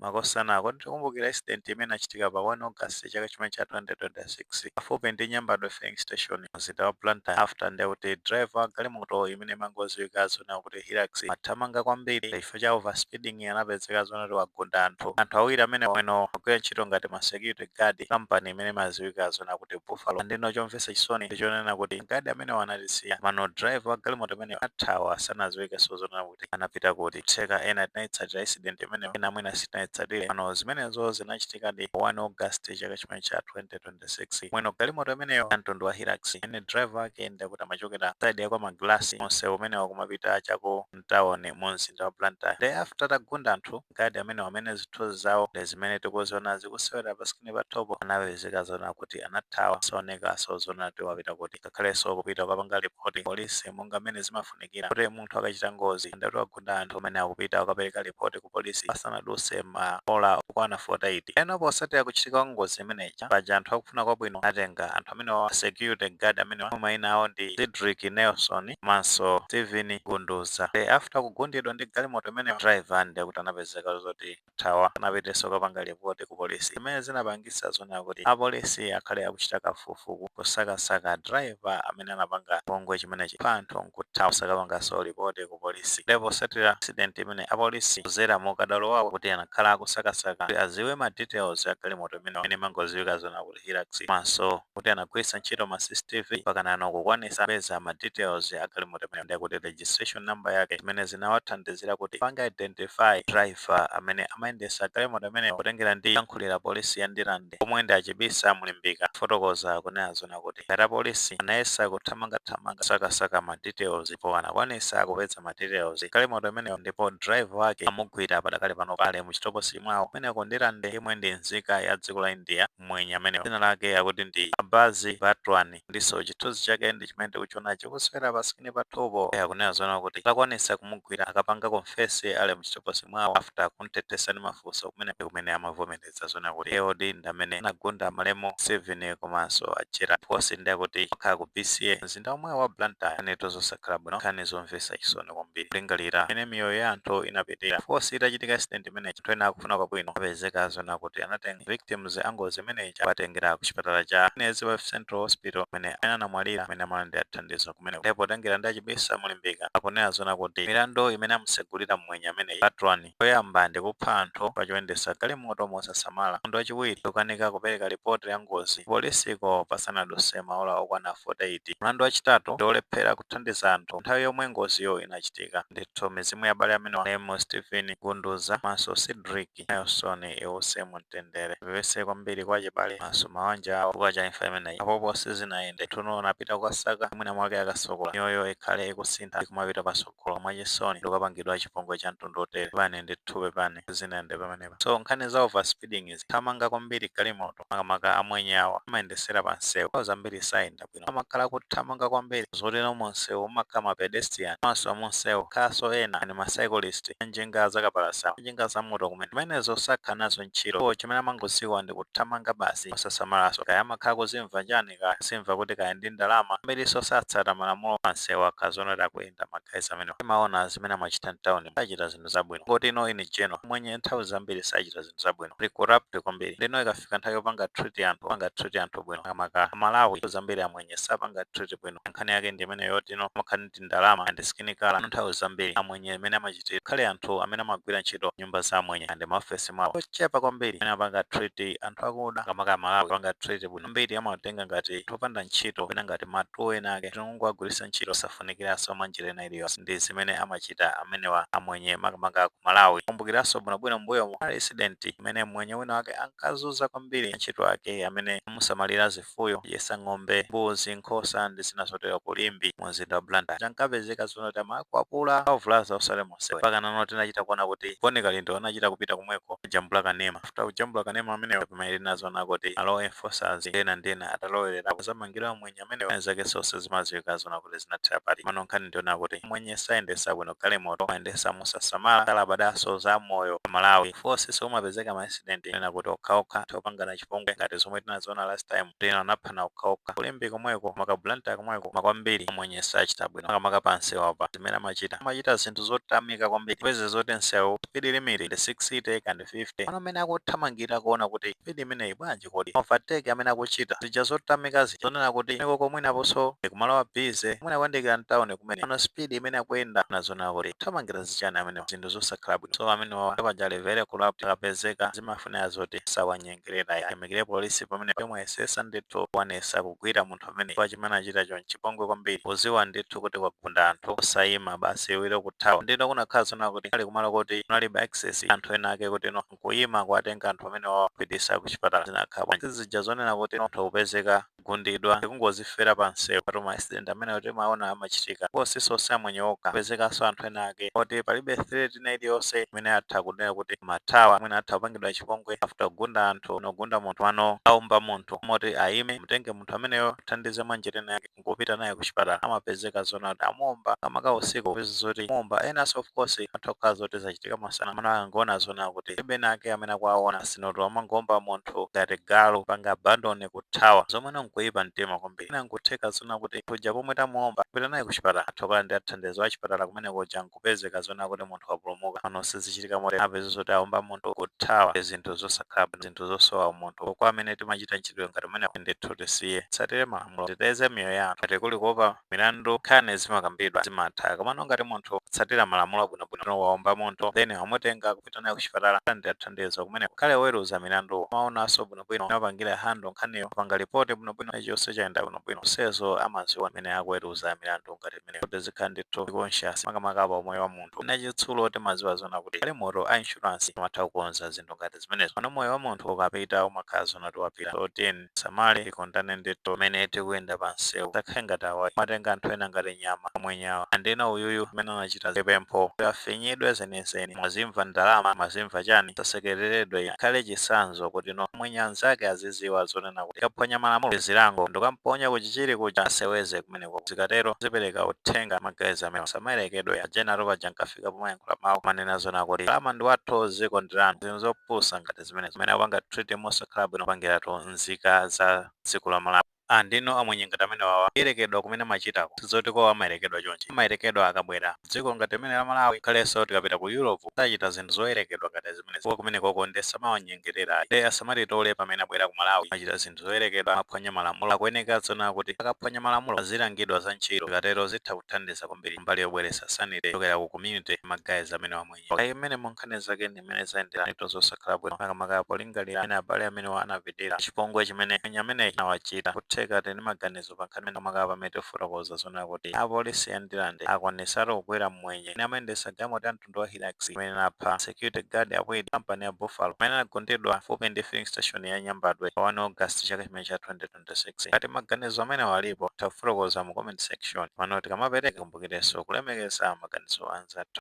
Makosana, kodi tikumbukira accident imene inachitika pa 1 August chaka chimene cha 2026 pafupi ndi Nyambadwe Filling Station mu mzinda wa Blantyre after nde kuti driver wa galimoto imene imangoziwika zonena kuti Hilux amathamanga kwambiri nde chifukwa cha over speeding anapezeka zonena kuti wagunda anthu. Anthu awiri amenewa ndamene amagwira ntchito ngati ma security guard company imene imaziwika zonena kuti Buffalo and ndeno chomvetsa chisoni ndichonena kuti ma guard amenewa anatisiya komano driver wa galimoto imeneyo anathawa sanaziwikenso zonena kuti kuti anapita kuti kutheka ena tinayitsatira accident imeneyo ena mwina sitinayitsatire pano zimenezo zinachitikadi pa 1 august chaka chimene cha 2026 mwini galimoto imeneyo ya mtundu wa hilux imene driver wake ndekuti amachokera side ya kwa magalasi onse umenewo kumapita cha ku mtawoni mu mzinda wa blantyre nde after atagunda anthu Guard amenewa amene zithunzi zawo ndi zimene tikuziona zikusewera pa screen pathupo anapezeka zonena kuti anathawa saonekanso zonena kuti wapita kuti ngakhalenso kupita kukapanga report police monga mmene zimafunikira kuti munthu akachita ngozi ngati wagunda anthu amayenera kupita kukapeleka report ku police pasanaduse ma ola okwana 48. Ndeno posatira kuchitika kwa ngozi imene ija paja anthu akufuna kwabwino anatenga anthu amenewawa ma security guard amenewa omwe maina awo ndi Cedric Nelson, komanso Steven Gunduza nde after kugundidwa ndi galimoto imeneyo driver ndekuti anapezeka zoti wathawa sanapitenso kukapanga report ku police zimene zinapangitsa zonena kuti apolisi akhale akuchita kafukufuku kusakasaka driver amene anapanga chipongwe chimenechi pa anthu nkuthawa osakapanganso report ku police nde posatira accident imene apolisi kuzera mu ukadaulo wawo kuti anakhala akusakasaka kuti aziwe ma details a galimoto imeneyo imene imangoziwika zonena kuti ndi Hilux komanso kuti anagwiritsa ntchito ma CCTV mpakanano kukwanitsa kupeza ma details a galimoto imeneyo ndekuti registration number yake zimene zinawathandizira kuti apange identify driver amene amayendetsa galimoto imeneyo potengera ndi oyankhulira polisi ya Ndirande omwe ndi a Chibisa Mulimbika anafotokoza akunena zonena kuti ngati apolisi anayesa kuthamangathamanga kusakasaka ma details ndipo anakwanitsa kupeza ma details a galimoto imeneyo ndipo driver wake amugwira padakali panopa ali mu chitokosi mwawo kumeneko Ndirande yemwe ndi nzika ya dziko la India mmwenye amenewa dzina lake akuti ndi Abbas Batwani ndinso chithunzi chake ndi chimene tikuchiona chikusewera pa screen pathupo iye akunena zonena kuti atakwanisa kumugwira anakapanga confess ali mchitokosi mwawo after kumthethesa ndi mafunso kumene ndi kumene amavomereza zonena kuti iyeyodi ndi amene anagunda malemu Steven komanso a Gerald of course ndi akuti okhala ku BCA mzinda omwewo wa Blantyre nkhanitu zosakhala bwino nkhani zomvesa chisoni kwambiri kulingalira mmene miyoyo ya anthu inapitira of course itachitika accident imeneyi anthu ena akufuna kwabwino anapezeka zonena kuti anatenga victims a ngozi imeneyi kuwatengera ku chipatala cha Queen Elizabeth Central Hospital kumene amene anamwalira pamene amalandira thandizo kumeneko ndipo potengera ndi a Chibisa Mulimbika akunena zonena kuti milandu imene amusegulira mmwenye ameneyi Batwani yoyamba ndi kupha anthu pa choyendesa galimoto mosasamala mlandu wachiwiri wokanika kupereka lipoti ya ngozi polisiko pasanaduse maola okwana 48 mlandu wachitatu ndi wolephera kuthandiza anthu nthawi yomwe ngoziyo inachitika Mutharika ndithu mizimu ya abale amenewa Name, Steven Gunduza komanso Cedrick Nelson iwuse mu mtendere. Tipepese kwambiri kwa achibale komanso mawanja awo chifukwa cha imfa imeneyi. Apopo sizinayende. Ndithu Noah anapita kukasaka mwina mwake akasokola. Miyoyo ikhale ikusintha ndi kumapita patsogolo mwachisoni ndi kukapangidwa chipongwe cha mtundu wotere. Pepani ndithu pepani. Sizinayende pamenepa. So nkhani za over speeding izi. Kuthamanga kwambiri galimoto makamaka amwenye awa amayendesera pa msewu. Nthawi zambiri sayenda bwino. ena amakhala akuthamanga kwambiri zotero mumsewu mumakhala ma pedestrian komanso mumsewu mukhalanso ena ndi ma cyclist a njinga zakapalasa a njinga zamoto kumene zimenezo sakhala nazo ntchito iwo chimene amangodziwa ndi kuthamanga basi osasamalanso kaya amakhala akuzimva chani kaya akuzimva kuti kaya ndi ndalama ambirinso satsata malamulo pamsewu akakhala zoona kuti akuyenda ma guys amenewa timaona zimene amachita mtaunimu sachita zinthu zabwino ngoti ino in general mwenye nthawi zambiri sachita zinthu zabwino ndi corrupt kwambiri ndino ikafika nthawi yopanga treat anthu panga treat anthu bwino makamaka amalawi nthawi zambiri amwenye sapanga treat bwino nkhani yake ndi imene yoti ino amakhala ndi ndalama and skin color nthawi zambiri amwenye imene amachitira akhale anthu amene amagwira ntchito m'nyumba za amwenye and maofesi mwawo ochepa kwambiri amene amapanga treat anthu akuda makamaka amalawi kupanga treat bwino ambiri amatenga ngati anthu opanda ntchito kapena ngati ma tool ena ake tinongowagwiritsa ntchito safu zosafunikiranso mwa njira ina iliyonse ndi zimene amachita amenewa amwenye makamaka ku Malawi. Mukumbukiranso bwinobwino m'mbuyomu kunali incident imene mmwenye wina wake ankazunza kwambiri antchito ake amene amusamalira zifuyo, kudyetsa ng'ombe, mbuzi, nkhosa ndi zina zotero ku Limbe mu mzinda wa Blantyre. Ankapezeka zoona kuti amakwapula, kuwavulaza osati monsewero. Mpakanano tinachita kuona kuti Bon Kalindo anachita kupita komweko kukajambula kanema. After kujambula kanema ameneyo ndi pamene tinadzaona kuti ma law enforcers ndi ena ndi ena atalowererapo, adzamangidwa amwenye. Amwenye amenewa nkhani zake zonse zimadziwika zoona kuti zinathera pati. Komano nkhani ndi yonena kuti amwenye sayendetsa bwino galimoto, amayendetsa mosasamala, salabadanso za moyo wa amalawi. Ofcourse kumapezeka ma incident ena akuti okhaokha atha kupangana chipongwe ngati zomwe tinaziona last time kuti ena anaphana okhaokha. Ku Limbe komweko, maka Blantyre komweko koma kwambiri amwenye sachita bwino makamaka pa msewupa. Zimene amachita, amachita zinthu zothamika kwambiri. Upeze zoti msewu speed limit ndi 60 kaya ndi 50 komano mmene akuthamangira kuona kuti speed imeneyi bwanji? kuti kodi ma overtake amene akuchita, zija zothamika zija, zonena kuti mikoko mwinanso ndi kumalo a busy, mwina kuyandikira mtauni kumene, komano speed imene akuyenda, mwina zonena kuti akuthamangira zichani amenewa, zinthu zosakhala bwino, so amenewawa nde paja ali very corrupt, akapezeka zimafunira zoti sawanyengerera ayi, tiyamikire police pamenepa yomwe yayesesa ndithu kukwanisa kugwira munthu ameneyu chifukwa chimene anachitacho nchipongwe kwambiri, kuziwa ndithu kuti wagunda anthu osayima basi liwiro kuthawa, ndiye kunakhala zonena kuti kunali kumalo koti kunalibe access ya anthu ena ake kuti no nkuyima kuwatenga anthu amene wawapitisa ku chipatala zinakhala bwanji zija zonena kuti munthu kupezeka kugundidwa ndikungozifera pa msewu patu ma accident amenewo timaona amachitika ndipo siso si amwenye okha kupezekaso anthu ena ake oti palibe threat ina iliyonse imene atha kunena kuti amathawa mwina atha kupangidwa chipongwe after kugunda anthu wagunda munthu mano alibe umunthu woti ayime amutenge munthu ameneyo athandize mwanjira ina yake nkupita naye kuchipatala amapezeka zoona kuti amuomba makamaka usiku popeza zoti kumuomba enanso of course atha kukhala zoti zachitika masana mwina akangoona zoona kuti palibe ena ake amene akuwaona sinotu amangoomba munthu ngati galu panga abandon kuthawa zomweno nkuipa mtima kwambiri mwina nkutheka zoona kuti munthu uja pomwe tamuomba nkupita naye kuchipatala atha kukhala ndi athandizi achipatala kumene kuja nku kupezeka zoona kuti munthu wapulumuka pano sizichitika motere apeza zoti aomba munthu kuthawa ndi zinthu zosakhala bwino zinthu zosowa umunthu kwa amene timachita mchitidwe ngati umenewu ndithu tisiye tsatire malamulo titeteze miyoyo ya anthu ngati kuli kuopa milandu nkhani zimakambidwa zimatha komano ngati munthu tsatira malamulo abwinobwino no waomba munthu then wamutenga kupita naye kuchipatala ndi athandizo kumene ngakhale oweruza milandu amaonanso bwinobwino amapangira handle nkhaniyo apanga lipoti bwinobwino chilichonse chayenda bwinobwino onsezo amaziwa amene akuweruza milandu ngati mene kuti zikhala ndithu conscious makamaka pa umoyo wa munthu ena chitsulo timaziwa zona kuti galimoto a insurance amatha kukonza zinthu ngati zimenezo pano moyo wa munthu ukapita umakhala zona kuti wapita so tiyeni tisamale tikondane ndithu mene tikuyenda pa msewu tisakhale ngati awa amatenga anthu ena ngati nyama amwenyawa and uyuyu amene anachita zipempho kuti afinyidwe zenizeni mwazimva ndalama mwazimva chani asasekereredwe akhale chisanzo kuti no amwenye anzake aziziwa zonena kuti akaphwanya malamulo zilango ndokamponya kuchichiri kuja aseweze kumene kumeneko. Zikatero, zipereka uthenga ma guys amenewa asamayerekedwe. A Genaro paja ankafika pomayankhula mawu kumanena zoona kuti ndalama ndi wathu, dziko ndi lanu. Zinthu zopusa ngati zimenezo amene akupanga treat mosakhala bwino kupangiratu nzika za dziko la Malawi. And ndinu amwenye ngati amenewawa. Kuyerekedwa kumene amachitako si zoti kwawo amayerekedwa chonchi. Amayerekedwa akabwera m'dziko ngati limene la Malawi. Ngakhalenso tikapita ku Europe sachita zinthu zoyerekedwa ngati zimenezi chifukwa kumenekoko nde samawanyengerera ayi. Nde asamatitole pamene abwera ku Malawi kumachita zinthu. zoyerekedwa amaphwanya malamulo akuyeneka zoona kuti akaphwanya malamulo azilangidwa za ntchito zikatero zitha kuthandiza kwambiri mbali yobweretsa sanity kuchokera ku community ma guys amenewa amwenye kaya imene munkhani zake ndi imene zayendera ntchito zosakhala bwino makamaka polingalira amene abale amenewa anapitira chipongwe chimene mwenye amene anawachita kutheka muli ndi maganizo pa nkhani imene makamaka pamene tifotokoza zoona kuti apolisi ya Ndirande akwanitsatu kugwira mmwenye amene amayendetsa galimoto ya mtundu wa Hilux imene inapha security guard a Kwedi kampani ya Buffalo amene anagundidwa pafupi ndi filling station ya Nyambadwe pa 1 August chaka chimene cha 2026. Ngati maganizo amenewa alipo, mutha kufotokoza mu comment section. Komano tikamapereka tikumbukirenso kulemekeza maganizo a anzathu.